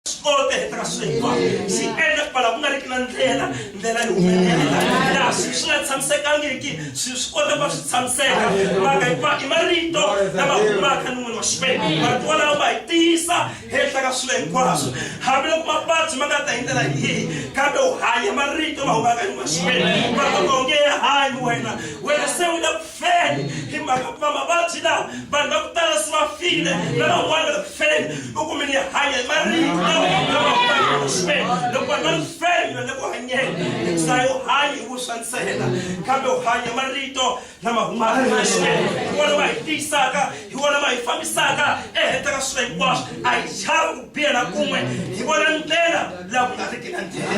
swi kota hi tirha swilo hinkwaswo swi endla ku vala ku nga ri ki na ndlela ndlela yi humelela laha swi swi nga tshamisekangiki swi swi kota ku va swi tshamiseka mhaka hikuva i marito lama humaka ni n'wini wa xikwembu marito walawo ma hi tiyisa henhla ka swilo hinkwaswo hambiloko mavabyi ma nga ta hi ndlela yihi kambe u hanya marito ma humaka ni n'wini wa xikwembu marito ma onge ya hanyi wena wena se u le feni hi mhaka ku va mavabyi lawa vanhu va ku tala se va file lavan'wana va ku feni u kume ni hanya hi marito lawa lavaximeni loko vanhu va ni feni va le ku hanyeni hikusayi u hanye hi vuswa ntsena kambe u hanya marito lama humaka emaximeni hi wona ma hi tiyisaka hi wona ma hi fambisaka ehenhla ka swilo hinkwaswo a hi chava ku biha na kun'we hi vona ndlela laha ku nga riki na ndlela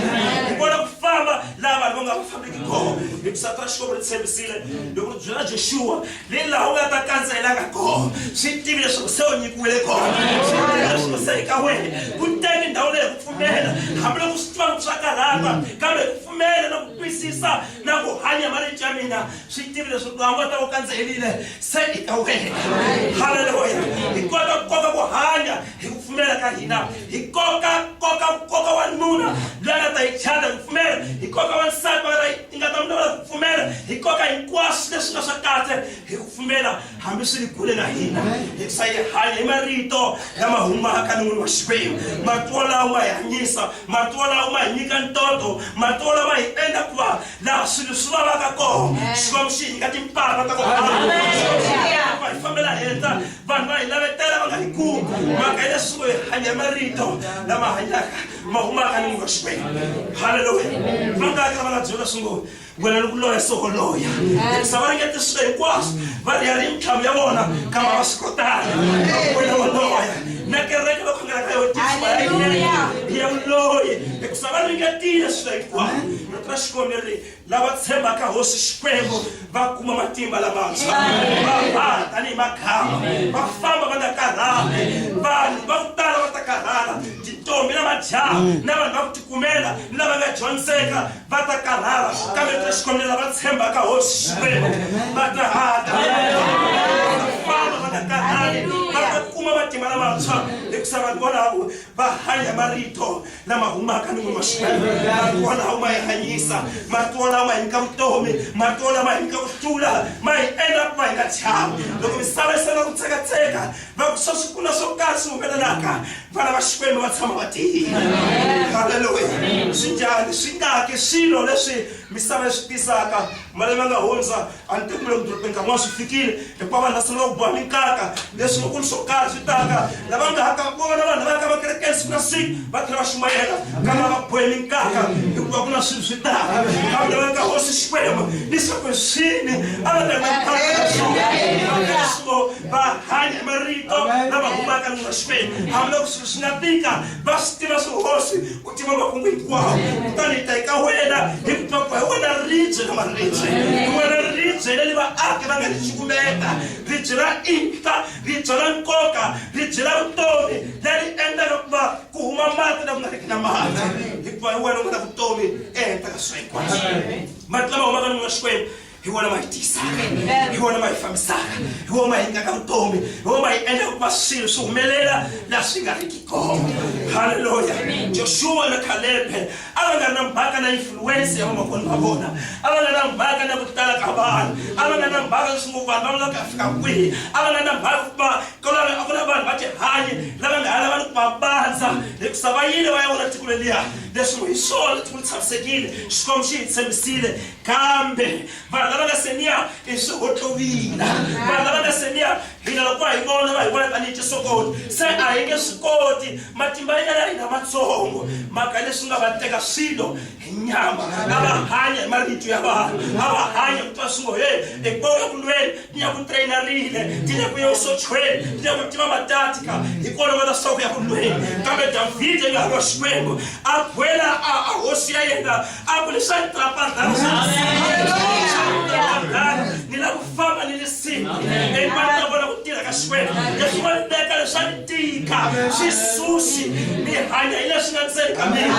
hi vona ku famba laha vanhu va nga ku fambi kona hi ku sata ra xikwembu ri tshembisile loko ri byela joshuwa le laha u nga ta kandzelaka kona swi tivi leswaku se u nyikiwile kona swi tivi leswaku se eka wena ku teki ndhawu leyi ku pfumela hambiloko swi tiva loko swa karhata kambe ku pfumela na ku twisisa na ku hanya marito ya mina swi tivi leswaku laha u nga ta u kandzelile se eka wena haleluya hi kota ku koka ku hanya Hi ku pfumela ka hina hi koka koka nkoka wa nuna loyi a nga ta yi chata hi ku pfumela, hi koka wansati va nga ta yi nga ta n'wi lawula hi ku pfumela, hi koka hinkwaswo leswi nga swa kahle hi ku pfumela hambi swi ri kule na hina. Hi ku sa hi hanya hi marito lama humaka enon'wini wa Xikwembu. Marito wolawo ma hi hanyisa, marito wolawo ma hi nyika ntoto, marito wolawo ma hi endla ku va laha swilo swi vavaka kona Xikwembu xi hi nyika timpfalo ta ku hanya, Xikwembu xi hi nyika timpfalo ta ku va hi fambela henhla. vanhu va hi lavetela va nga yi kumi mhaka ya leswi hi hanya marito lama hanyaka ma humaka ni munhu wa xikwembu halleluya va nga kha va nga byela swi ngo wena ni ku loya soko loya se va ringete swilo hinkwaswo va ri ya ri mintlhamu ya vona kamba va swi kotanga wena wa loya na kereke va khongela ka yotiya uloyi hikusa va ringetile swilo hinkwaswo rito ra xikwembu leri lava tshembaka hosi xikwembu va kuma matimba lamantshwa va haha tanihi makhamba va famba va nga karhali vanhu va ku tala va ta karhala tintombi na majaha mm. na vanhu va ku tikumela ni lava nga dyondzeka va ta karhala kambe ta xikwembu lava tshembaka hosi xikwembu va ta haha tanihi famba va nga karhali va ta kuma matimba lamantshwa hikusa vanhu volavo va hanya marito lama humaka ni n'win'waxinene marito walawo ma yi hanyisa marito walawo ma hi nyika vutomi marito walawo ma hi nyika ku hlula ma hi endla ku va hi nga chavi loko misava yi sala ku tsekatseka va ku swa swi kula swo karhi swi humelelaka vana va xikwembu va tshama va tiyile halleluya swi njhani swi ngaki swilo leswi misava yi swi tisaka malembe nga hundza antemula kudolobheka n'wana swi fikile hikuva vanhu va sungula ku boha minkaka leswi vakulu swo karhi swi taka lava nga haka vona vanhu va yaka va kerekeni siku na siku va tlhela va xumayela kambe va bohe minkaka hikuva ku na swilo swi taka kambe va ka hosi xikwembu leswaku hi swini a va taeso va hanya marito lama humaka mina xikwembu hambiloko swilo swi nga tika va swi tiva swihosi ku tiva makungu hinkwawo kutani hi ta eka wena hi ku twa ku hi wena ribye na maribye hi wena ribye leli vaaki va nga ri cukumeta ribye ra inhla ribye ra nkoka ribye ra vutomi leri endlaka ku va ku huma mati na ku nga riki na mati hikuva hi wena u nga na vutomi ehenhla ka swikwaswo mati lama humaka ni n'wina xikwembu hi wona ma hi tiyisaka hi wona ma hi fambisaka hi wona ma hi nyaka vutomi hi wona ma hi endla ku va swilo swi humelela la swi nga riki kona halleluya joshuwa na kalebe a va nga ri na mhaka na influence ya vamakoni va vona a va nga na mhaka na ku tala ka vanhu a va nga na mhaka leswi ngo vanhu va vula ka fika kwihi a va nga na mhaka ku va kolave a ku na vanhu va tihanyi lava nga ha lava ni ku va bandza hikusa va yile va ya vona tiko leliya leswi ngo hi swona tiko li tshamisekile xikwembu xi hi tshembisile kambe vanhu lava nga seniya i swihotlowina vanhu lava nga seniya hina loko va hi vona va hi vona tanihi tisokoti se a hi nge swi koti matimba ya ya hina matsongo mhaka leswi nga va teka swilo hi nyama a va hanya hi marito ya vanhu a va hanya kutwa swingo he hi boka kulweni ni ya ku trainarile ni ya ku ya usochweni ni ya ku tiva matatika hi kona va ta swi ku ya ku lweni kambe davhide nga lwa xikwembu a khwela a hosi ya yena a ku lexi a ni trapadlana ni la ku famba ni li siku and va ta vona ku tirha ka xikwembu leswi va teka leswi a ni tika swi susi ni hanya hi leswi nga ndzeni ka mina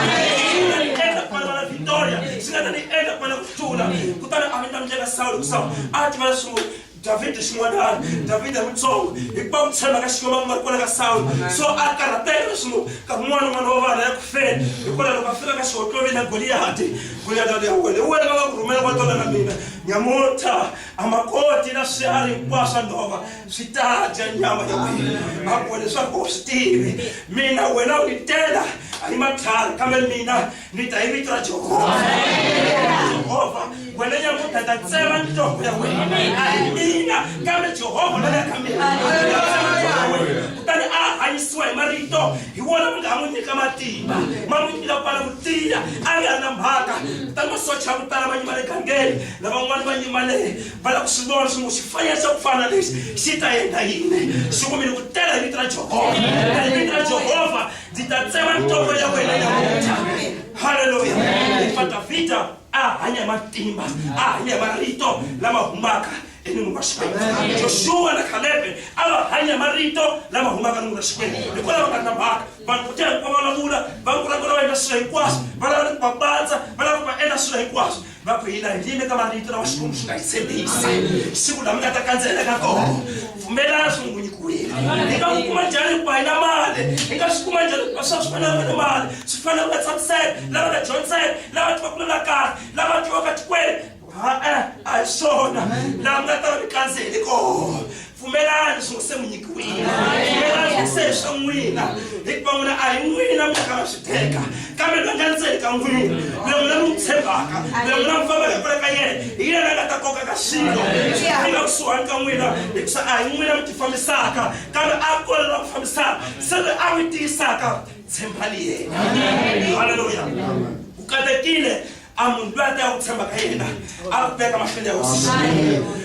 swi nga ni endla ku va na victoria swi nga ta ni endla ku va na tlula kutani a vita ndlela sawulo ku sawulo a tiva leswaku davhida xin'wanana davhida mutsongo hikuva ku tshemba ka xikwembu a ku nga ri kona ka sawulo so a karhateka leswaku ka kun'wana n'wana wa vana ya ku feni hikona loko a fika ka xihotloli na goliyati goliyati ali ya wena hi wena va nga ku rhumela va tola na mina nyamuta a ma koti na swiharhi hinkwaswo swa nhova swi ta dya nyama ya wena a ku leswaku u swi tivi mina wena u ni tela a ni matlhari kambe mina mi ta hi vito ra jehovha jehovha wena nyamuta ta tsema nhloko ya wena mina kambe jehovha la ya ka mina kutani a hanyisiwa hi marito hi wona mi nga n'wi nyika matimba ma n'wi nyika kwala ku tiya a nga ri na mhaka kutani masocha ya ku tala ma nyimale gangeni lavan'wana va nyimale va lava ku swi vona swi ngo xifanelo xa ku fana lexi xi ta endla yini xi kumile ku tela hi vito ra jehovha hi vito ra jehovha ndzi ta tsema nhloko ya wena ya mutha halleluya hikuva davhida a hanya hi matimba a hanya hi marito lama humaka enini wa xikwembu joshua na khalebe a va hanya marito lama humaka nini wa xikwembu hikwalaho ka tlambaka vanhu vo tiya hikuva va vulavula va vulavula va endla swilo hinkwaswo va lava ni ku va patsa va lava ku va endla swilo hinkwaswo va ku hina hi yime ka marito lawa xikwembu xi nga yi tshembisa siku lama nga ta kandzela ka kona pfumelana swi n'wi nyikiwile hi nga n'wi kuma njhani hikuva hi na mali hi nga swi kuma njhani hikuva swa swi fanele va ni mali swi fanele va nga tshamiseka lava nga dyondzeka lava tivaka na la kahle lava tivaka tikweni ha-e a hi swona laha mi nga ta va mi kandzeli kona pfumelani swi se mi nyikiwile pfumelani ku se swa n'wina hikuva n'wina a hi n'wina mi nga va swi teka kambe loyi nga ndzeni ka n'wina loyi n'wina mi n'wi tshembaka loyi n'wina mi fambaka kule ka yena hi yena nga ta koka ka swilo swi nga kusuhani ka n'wina hikuva a hi n'wina mi ti fambisaka kambe a ku ri la ku fambisaka se loyi a mi tiyisaka tshembani yena halleluya ku katekile a munhu loyi a teka ku tshemba ka yena a ku veka mahlweni ya hosi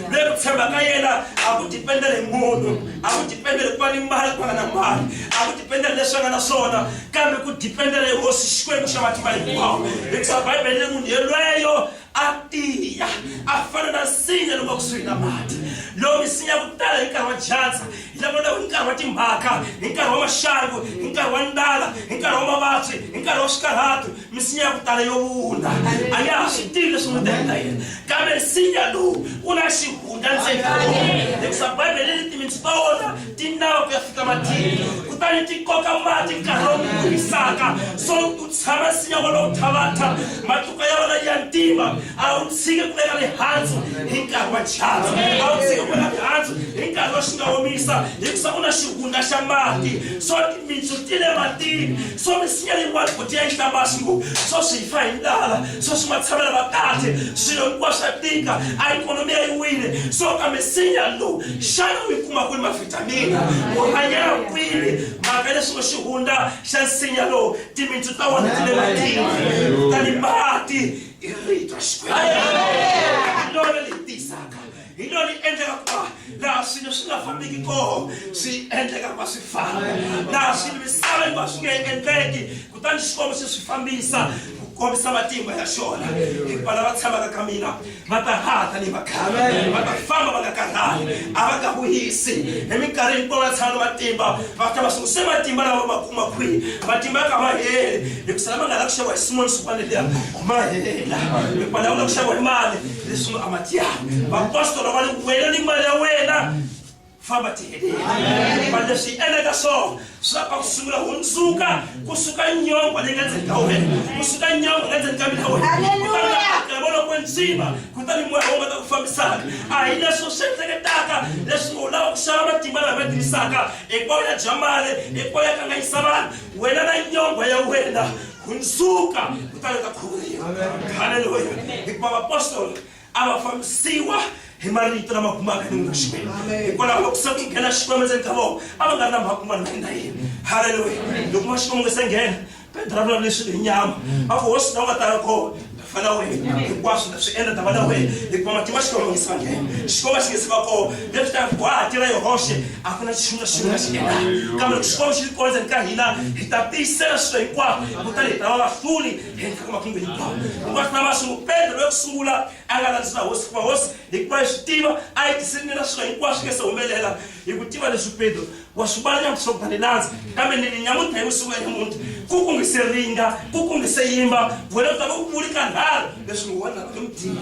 loyi ku tshemba ka yena a ku dipendele hi munhu a ku dipendele ku va ni mali ku nga na mali a ku dipendele leswi nga na swona kambe ku dipendele hi hosi xikwembu xa matimba hinkwawo hikuva bibele le munhu yelweyo a tiya a fana na nsinya lowu va kusuhi na mati lowu misinya ku tala hi nkarhi wa dyandza hi lavona hi nkarhi wa timhaka hi nkarhi wa maxangu hi nkarhi wa ndala hi nkarhi wa mavabyi hi nkarhi wa swikarhatu misinya ya ku tala yo vuna a ya ha swi tivi leswi n'wi teka yena kambe nsinya lowu u na xihundla ndzeni ka wona hikusa bibele ni timitsu ta wona ti nava ku ya fika matini kutani ti koka mati nkarhi lowu ku hisaka so u tshama nsinya wolowo thavatha matluka ya wona ya ntima a wu tshiki ku veka mihandzu hi nkarhi wa dyandza a wu tshiki ku veka mihandzu hi nkarhi wa xi nga omisa hikusa u na xihundla xa mati so timitsu ti le matini So misinya hinkwayo ku tiya nhlambasi ku so swi fa hi ndlala so swi ma tshamela va kahle swilo hinkwaswo swa tika a ikhonomi ya yi wile so ka misinya lowu xana u yi kuma kwini mavhitamini u hanyela kwini mhaka leswi xi hundza xa nsinya lowu timitsu ta wona ti le matini kutani mati i rito xikwembu lona leyi tisaka hi lero yi endleka ku va laha swilo swi nga fambiki koho swi endleka ku va swi famba laha swilo misava yi va swi nge endleki kutani xikwembu se swi fambisa ku kombisa matimba ya xona hikuva lava tshamaka ka mina va ta haha tanihi vakhale va ta famba va nga karhali a va nga vuyisi hi minkarhi hinkwayo va tshama na matimba va ta va swi se matimba lava va kuma kwihi matimba ya ka ma heli hikusa lama nga lava ku xaviwa hi swin'wana swin'wana liya ma hela hikuva lava nga ku xaviwa hi mali Yesu a ma tia. Vapostolo va ni wena ni mali ya wena. Famba tihedeni. Mali leswi endleka swona swa pa ku sungula hundzuka kusuka nyongwa leyi nga ndzeni ka wena kusuka nyongwa nga ndzeni ka mina wena kutani vona ku ndzima kutani moya wo nga ta ku fambisaka a hi leswo swi endleketaka leswi u lava ku xava matimba lama nga tivisaka hinkwayo ya jamale hinkwayo ya kanganyisa vanhu wena na nyongwa ya wena hundzuka kutani ta khuvuriwa halleluya hikuva vapostolo a va fambisiwa hi marito lama humaka emun'wini wa xikwembu hikwalaho loko se ku nghena xikwembu endzeni ka vona a va nga ri na mhaka un'wana na yina yini halleluya loko va xikwembu nga se nghena pedro a vulavula leswi hi nyama a ku hosi na u nga tanga kona vana wena hinkwaswo ta swi endla ta vana wena hikuva matimba xikwama nge se va nghena xikwama xi nge se va kona leswi ta ku ha tirha hi hoxe a ku na xiximi na xiximi na xi endlaka kambe loko xikwama xi ri kona ndzeni ka hina hi ta tiyisela swilo hinkwaswo kutani hi ta va vahluli henhla ka makungu hinkwawo hinkwaswo na vasulu petro loyi ku sungula a nga landzisa hosi hikuva hosi hikuva yi swi tiva a yi tisini na swilo hinkwaswo nge se humelela hi ku tiva leswi petro washubala nyamusobhane nanzi kambe ninyamuta yosuku ya nyamuti kuku ngiseringa kuku ngiseyimba vona kuta vokupuli ka nharhu leswi ni wona loko mudini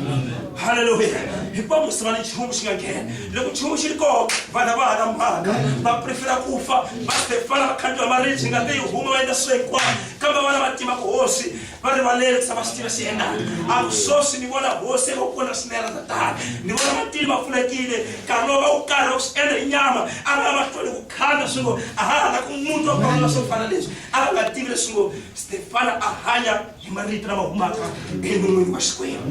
haleluya hikuva musiva ni nchumu xi nga nghena loko nchumu xi ri koho vana va hala mhaka va prefera ku fa va stefana va khandiwa maribyi nga leyi huma va endla swilo hinkwavo kambe vana va tima ku hosi va rivalele ku sa va swi tiva swi endlaka a ku sweswi ni vona hosi eka kona swinene ta tala ni vona matili va pfulekile nkarhi lowu va wu karhi va swi endla hi nyama a va lava hlweli ku khanda swi ngo a ha ha la ku muti wa kona swo fana leswi a va nga tivi leswi ngo stefana a hanya hi marito lama humaka enon'wini wa xikwembu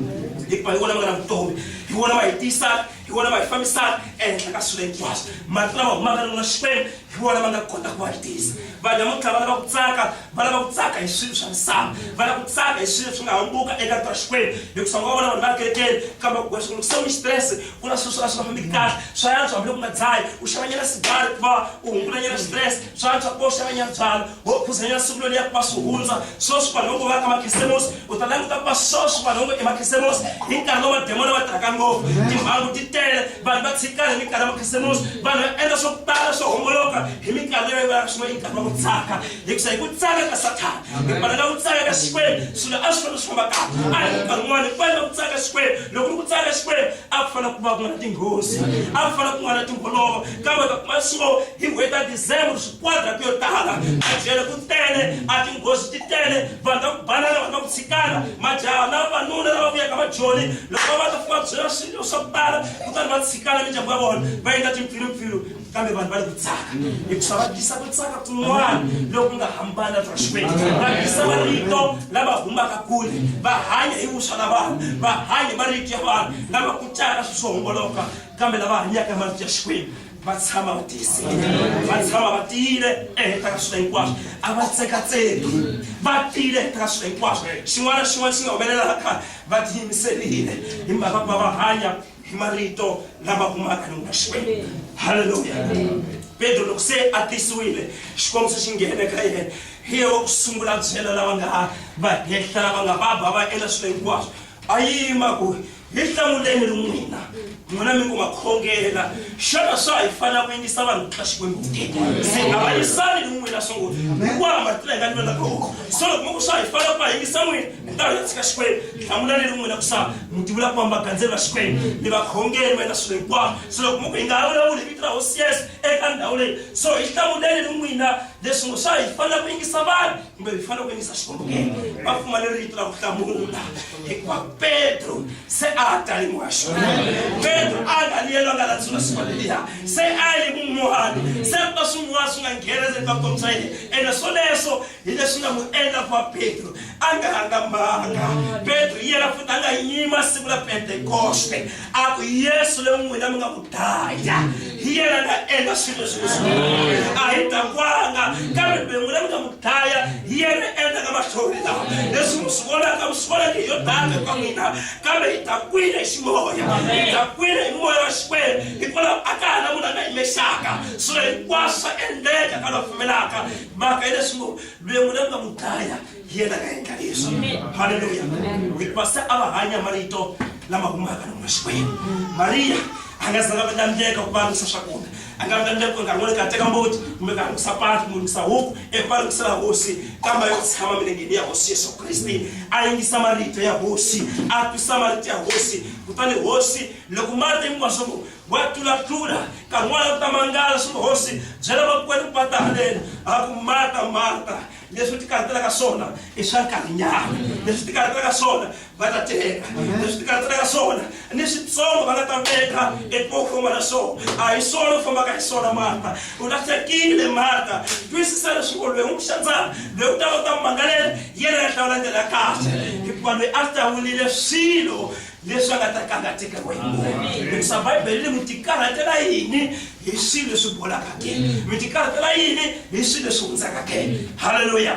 hikuva hi wona va nga na vutomi hi wona va hi tiyisaka hi wona ma hi fambisaka ehenhla ka swilo hinkwaswo mati lama humaka ni xikwembu hi wona ma nga kota ku va tisa vanhu namuntlha va lava ku tsaka va lava ku tsaka hi swilo swa misava va lava ku tsaka hi swilo swi nga hambuka eka ta xikwembu hikusa nga vona vanhu va kerekeni kambe ku va swilo kusoni xitirese ku na swilo swa swi nga fambiki kahle swa yantswa hambi loko u nga dzayi u xavanyela sigari ku va u hungulanyela xitirese Tswantswa ku boxa vanyatswana wo phuza nyana siku loliya ku va swi hundza sweswi vanhu vo vaka makhisemosi u ta languta ku va sweswi vanhu vo emakhisemosi hi nkarhi lowu mademona va tirhaka ngopfu timhangu ti tele vanhu va tshikana hi minkarhi ya makhisemosi vanhu va endla swo tala swo homboloka hi minkarhi leyi va swin'we i nkarhi wa ku tsaka hikusa hi ku tsaka ka sathana hikona na ku tsaka ka xikwembu swilo a swi fanele swi famba kahle a hi nkarhi wun'wana hi fanele ku tsaka xikwembu loko ri ku tsaka xikwembu a ku fanele ku va ku nga na tinghozi a ku fanele ku nga na timholovo kambe ta kuma swo hi n'hweti ya december swiquadrati yo tala majele ku tele a tinghozi ti tele vanhu ta ku banana vanhu ta ku tshikana majaha na vanuna lava vuyaka majoni loko va ta fika byela swilo swa ku tala kutani va tshikana mindyangu ya vona va endla timpfilumpfilu kambe vanhu va le ku tsaka hikuva va tisa ku tsaka kun'wana loku nga hambana bya xikwembu va tisa marito lava humaka kule va hanya hi vuswa na vanhu va hanya marito ya vanhu lava kutaka swi swo homboloka kambe lava hanyaka marito ya xikwembu va tshama va tiyisile va tshama va tiyile ehenhla ka swilo hinkwaswo a va tsekatseki va tiyile ehenhla ka swilo hinkwaswo xin'wana na xin'wana xi nga humelelaka va tiyimiserile hi mhaka ku va va hanya hi marito lama kumaka ni n'wina xikwembu halleluya pedro loko se a tisiwile xikwembu se xi nghene ka yena hi ye wa ku sungula byela lava nga va hehla lava nga va ba va endla swilo hinkwaswo a yima ku Mi hlamuleni ri n'wina, n'wina mi ngo ma khongela. Xana swa ha yi fanela ku yingisa vanhu ku tlula Xikwembu ke? Se a va yisani ni n'wina sungula. Hinkwaha ma tlula hi nga ni lona kona. So loko mi ku swa ha yi fanela ku va yingisa n'wina, hi ta ya tshika Xikwembu. Hlamulani ri n'wina ku sa mi tivula ku famba gandzeni va Xikwembu, ni va khongeli va endla swilo hinkwavo. So loko mi ku hi nga ha vulavuli hi vito ra Hosi Yesu eka ndhawu leyi, so hi hlamuleni ri n'wina leswi ngo swa ha yi fanela ku yingisa vanhu. kumbe hi fanele ku yingisa xikwembu ke va pfumale rito ra ku hlamula hikuva petro se a ha talimiwa xona petro a nga liyelo a nga landzula siku leliya se a yi mun'wana se ku ta swin'wana swi nga nghena se ka vutomi bya yena ene swoleswo hi leswi nga n'wi endla ku va petro a nga hangambanga petro yena futhi a nga yima siku la pentekoste a ku yesu le n'wina mi nga ku daya hi yena nga endla swilo leswi leswi a hi dakwanga kambe mi n'wina mi nga mu daya hi yena endlaka mahlori lawa leswi mi swi vonaka mi swi vonaka hi yo daka ka n'wina kambe hi dakwile hi ximoya hi dakwile hi moya wa xikwembu hikwalaho a ka ha na munhu a nga yimexaka swilo hinkwaswo swa endleka ka la pfumelaka mhaka yi leswi ngo mi n'wina mi nga mu daya yena nga endla leswi halleluya hikuva se a va hanya marito lama humaka lomu xikwembu mariya a nga zanga va tsandzeka ku valungisa swakudya a nga tsandzeka ku nkarhi wun'wana ka teka mbuti kumbe ka lunghisa patu kumbe lunghisa huku eku va lungisela hosi kambe yo tshama milengeni ya hosi yesu kriste a yingisa marito ya hosi a twisa marito ya hosi kutani hosi loko marito hinkwaswo ku wa tlulatlula nkarhi wun'wana ku ta mangala swi hosi byela vakwenu ku va ta haleni a ku mata mata leswi ti karhatelaka swona i swa nkarhinyana leswi ti karhatelaka swona va ta teka leswi ti karhatelaka swona ni switsongo va nga ta veka eku famba na swona a hi swona ku fambaka hi swona marta u lahlekile marta twisisa leswaku loyi n'wi xandzana loyi u ta va ta mangalela yena ya hlawula ndlela ya kahle hikuva loyi a hlawulile swilo leswi a nga ta kangateka wena hikuva bibele ri n'wi tikarhatela yini hi swilo leswi bolaka ke mi ti karhatela yini hi swilo leswi hundzaka ke halleluya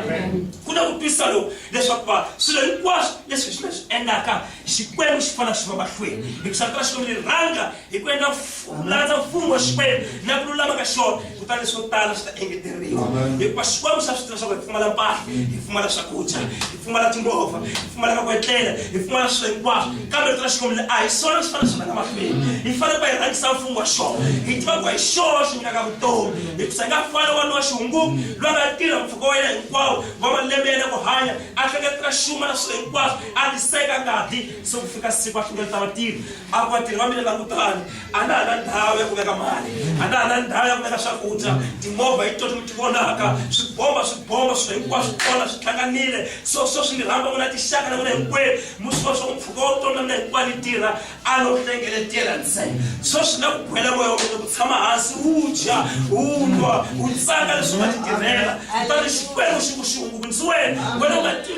ku na ku twisisa loku leswaku va swilo hinkwaswo leswi swi leswi endlaka xikwembu xi fanela xi va mahlweni hikusa rito ra xikwembu ri rhanga hi ku endla landza mfumo wa xikwembu na ku lulama ka xona kutani leswo tala swi ta engeteriwa hikuva xikwembu xa swi tiva leswaku hi pfumala mpahla hi pfumala swakudya pfumala timovha hi pfumala ka ku etlela hi pfumala swilo hinkwaswo kambe vito ra xikwembu le a hi swona swi fanele swi rhanga mahlweni hi fanele ku va hi rhangisa mfumo wa xona hi tiva ku hi xona xi nyikaka vutomi hikusa nga fana wanuna wa xihunguku loyi nga tirha mpfhuka wa yena hinkwawo wa malembe yena ku hanya a hleketela xuma na swilo hinkwaswo a tiseka ngati se ku fika siku a hlengeleta vatirhi a ku vatirhi va mina langutani a na ha na ndhawu ya ku veka mali a na ha na ndhawu ya ku veka swakudya timovha hi toti mi ti vonaka swibomba swibomba swi hinkwaswo swi kona swi hlanganile so so swi ni rhamba n'wina tixaka na n'wina hinkwenu mu swi vona swa ku mpfhuka wa vutomi na mina hinkwayo ni tirha a no hlengeletela ntsena so swi na ku khwela moya wa mina ku tshama hansi wu dya wu nwa wu tsaka leswi u nga ti tirhela kutani xikwembu xi ku xihungukunisiweni wena u nga tivi